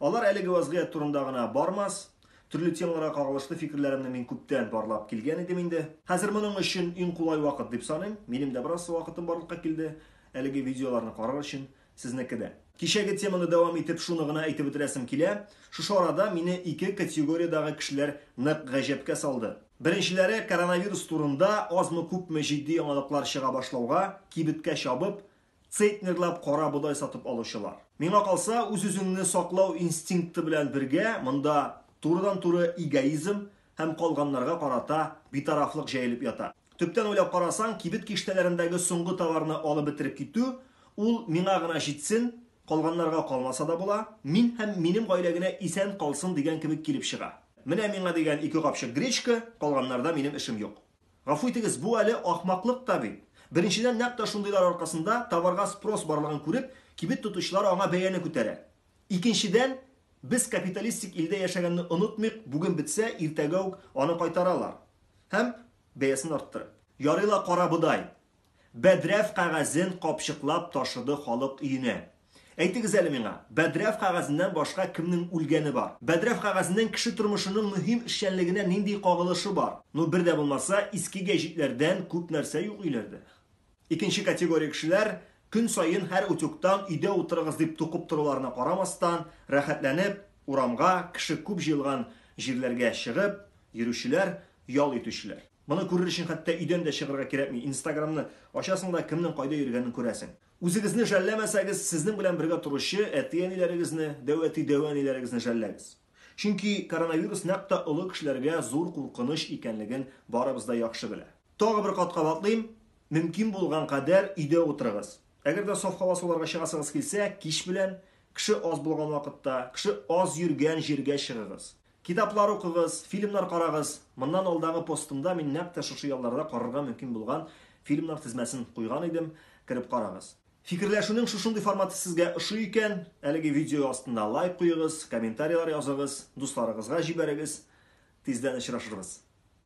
Алар әлеге вазгыять турында гына бармас, төрле темаларга кагылышлы фикерләремне мин күптән барлап килгән идем инде. Хәзер моның өчен иң кулай вакыт дип саныйм, минем дә бераз вакытым барлыкка килде әлеге видеоларны карар өчен, сезнеке дә. Кичәге теманы дәвам итеп шуны гына әйтеп бетерәсем килә, шушы арада мине ике категориядәге кешеләр нык гаҗәпкә салды. Беренчеләре коронавирус турында азмы-күпме җитди яңалыклар чыга башлауга, кибеткә чабып, Цейтнерлап карабодай сатып алучылар. Миңа калса, үз-үзеңне саклау инстинкты белән бергә монда турыдан-туры эгоизм һәм калганнарга карата битарафлык җәелеп ята. Төптән уйлап карасаң, кибет киштәләрендәге соңгы товарны алып бетереп китү, ул миңа гына җитсен, калганнарга калмаса да була, мин һәм минем гаилә генә исән калсын дигән кебек килеп чыга. Менә миңа дигән ике капчык гречка, калганнарда минем эшем юк. Гафу итегез, бу әле ахмаклык та бит. Беренчедән, нәкъ тә шундыйлар аркасында, товарга спрос барлыгын күреп, кибет тотучылар аңа бәяне күтәрә. Икенчедән, без капиталистик илдә яшәгәнне онытмыйк, бүген бетсә, иртәгә үк аны кайтаралар һәм бәясен арттырып. Ярый ла кара бодай, Бәдрәф кәгазен капчыклап ташыды халык өенә. Әйтегез әле миңа, бәдрәф кәгазеннән башка кемнең үлгәне бар? Бәдрәф кәгазенең кеше тормышының мөһим эшчәнлегенә нинди кагылышы бар? Ну, бер дә булмаса, иске гәҗитләрдән күп нәрсә юк өйләрдә. Икенче категория кешеләр, көн саен һәр утюгтан өйдә утырыгыз дип тукып торуларына карамастан, рәхәтләнеп, урамга, кеше күп җыелган җирләргә чыгып йөрүчеләр, ял итүчеләр. Моны күрер өчен хәтта өйдән дә чыгарга кирәкми, инстаграмны ачасың да кемнең кайда йөргәнен күрәсең. Үзегезне жәлләмәсәгез, сезнең белән бергә торучы әти-әниләрегезне, дәү әти-дәү әниләрегезне жәлләгез. Чөнки коронавирус нәкъ тә олы кешеләргә зур куркыныч икәнлеген барыбыз да яхшы белә. Тагы бер кат кабатлыйм, мөмкин булган кадәр өйдә утырыгыз. Әгәр дә саф һава суларга чыгасыгыз килсә, кич белән, кеше аз булган вакытта, кеше аз йөргән җиргә чыгыгыз. Китаплар укыгыз, фильмнар карагыз. Моннан алдагы постымда мин нәкъ тә шушы ялларда карарга мөмкин булган фильмнар тезмәсен куйган идем, кереп карагыз. Фикерләшүнең шушындый форматы сезгә ошый икән, әлеге видео астында лайк куегыз, комментарийлар языгыз, дусларыгызга җибәрегез. Тиздән очрашырбыз.